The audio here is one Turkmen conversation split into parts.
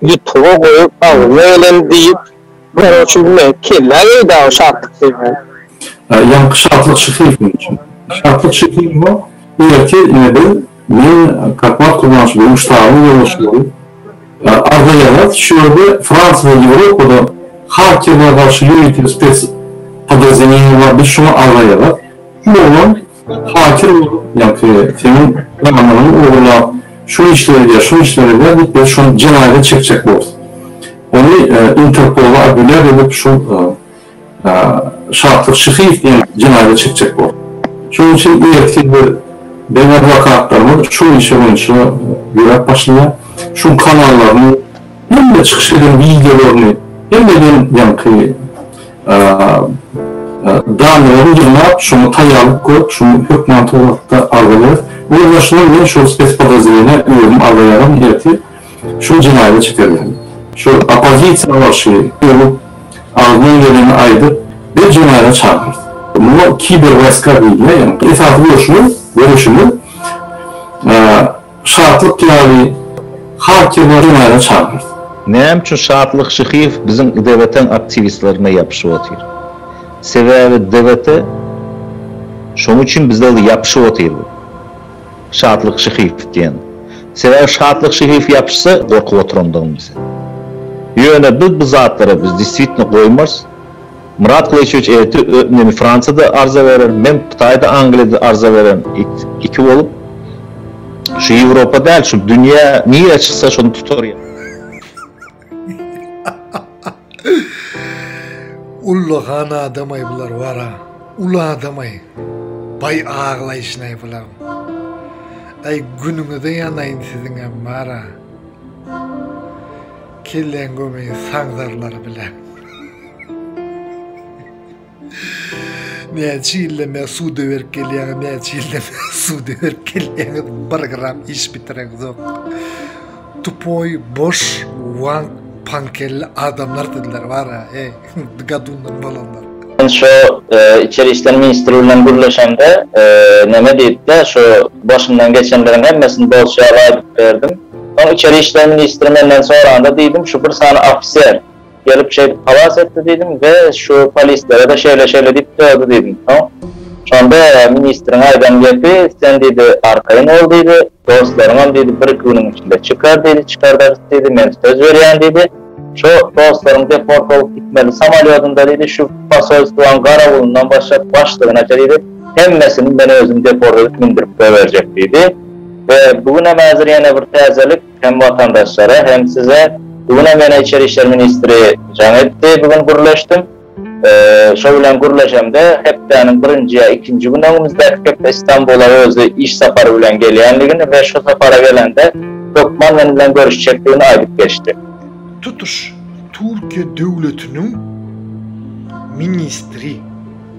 Ýutuba goýup agzyna geleni diýip Gara çüwme kellä geý dagy şatlyk diýmän. Ýaňky şatlyk şyhyr sen üçin. Şatlyk şyhyr bu ertir ine biz men Karpat Kurmanşybowyň ştabynyň ýolbaşçy bolup agzaýarys şu ýerde Fransiýa we Ýewropada hakerlere garşy ýörite spes podrazdeleniýa bar biz şoňa agzaýarys bu oglan Fakir bolup, ýa-ki seniň pulanyňy ogurlap, şo işleri eder, şo işleri eder diýip, biz şony jenaýata çekjek bolus. Ony Interpola apelýasiýa edip, şol Şatlyk Şyhyýew diýen jenaýata çekjek bolus. Şonuň üçin ertir biz, biziň adwokatlarymyz şol işe boýunça ýöräp başlaýar. Şoň kanallaryny, hemme çykyş eden wideolaryny hemmeden ýaňky. Danyýaly ýygnap, şoňa taýýarlyk görüp, şuny hökman towakda agzalarys. Onuň başyndan men şol spespodrazdeleniýä özüm agzaýaryn, ertir şol jenaýada çykarýaryn. Şol oppozisiýa garşy öwüp, agzyňdan geleni aýdyp, biz jenaýada çagyrarys. Muňa kiberwaýska diýilýär. Ýagny esasy göreşimiz, göreşimiz, Şatlyk ýaly hatyralar ýada çalar. Näme üçin Şatlyk Şyhyýew biziň DBT-iň aktiwistlerine ýapyşyp otyr? Sebäbi DBT şonuň üçin bize ýapyşyp otyr bu Şatlyk Şyhyýew diýen. Sebäbi Şatlyk Şyhyýew ýapyşsa gorkup oturandygym bize. Ýöne biz bu zatlara biz deswitno goýmarys. Myrat Gylyçowiç ertir ö men Fransiýada arza bererin, men Hytaýda, Angliýada arza bererin, ik iki bolup şu Ýewropa däl, şu dünýä nirä çyksa şony tutarýa. Ullakan adamaý bular bara. Uly adamaý. Baý aglaýşynaý bular. Aý günüňize ýanaýyn siziň hem bara. Kelleň gömeý saňzarlary bilen. Näçe ýylda men suda berip gelýän, näçe ýylda men suda berip gelýän, bir gram iş bitireňzok. Tupoy, boş, wan, pankelli adamlar dediler bara, eý, gadundan bolanlar. Men şo içeri işler ministri bilen gürleşemde, neme diýipdi, şo başymdan geçenleriň hemmesini bolşy ýaly aýdyp berdim. Soň içeri işler ministri menden soranda diýdim, şu bir sany ofiser, Gelip şeýdip halas etdi diýdim we şu polislere-de şeýle-şeýle diýip dördi diýdim. Soň şonda ministriň aýdan gepi, Sen diýdi, arkaýyn bol diýdi, dostlaryňam diýdi bir-iki günüň içinde çykar diýdi, çykardarys diýdi, men söz berýän diýdi. Şu dostlaryň deport bolup gitmeli samolýodynda diýdi, şu posolstwaň garawulyndan başlap başlygynaça diýdi, hemmesini men özüm deport edip mündirip goýberjek diýdi. We bu günem häzir ýene bir täzelik, Hem watandaşlara hem size bu günem ýene içeri işler ministri jaň etdi bu gün gürleşdim. Şo bilen gürleşemde hepdäniň birinji ýa ikinji güni öňümizdäki hepde Istanbula özi iş sapary bilen gelýänligini we şo sapara gelende hökman men bilen görüşjekdigini aýdyp geçdi. Tutuş Türkiýe döwletiniň ministri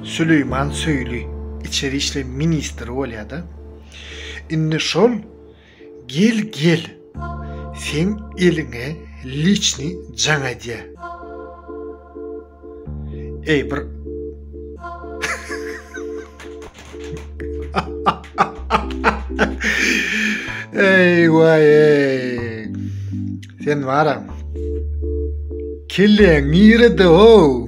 Süleýman Söýli içeri işler ministri bolýada indi şol Gel gel seň eliňe liçni jaň edýä. Eý bir Eý waý eý. Sen wara. Kelle nirede o?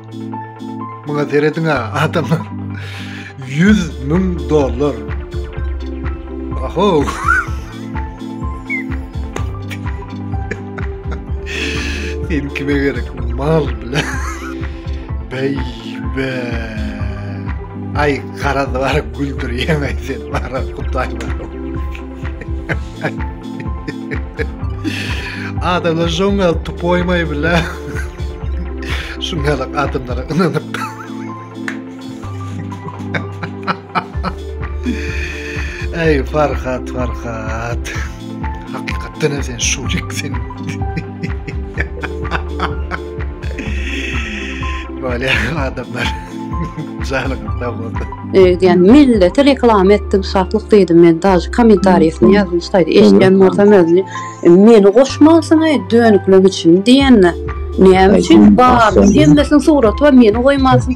Muňa serediň ha adamlar. 100 müň dollar. Aho. Sen kime gerek mal bile. Bey be. Ay kara var güldür yemezsin. Var kutay var. Adamlar şoň gal tupoýmaý bile. Şuň gal adamlara ynanyp. Ey Farhat, Farhat. Hakykatdan hem sen şurik sen. Böyle adamlar. Janyň sag bolsun. Öýdýän milleti reklama etdim, şatlyk diýdim men. Daş kommentariýasyny ýazdyň şaýdy. Eşitýän bolsam özüni. E, meni goşmansyň aý dönüklemek üçin diýende. Näme üçin bar? Hemmesiniň suraty bar, meni goýmansyň.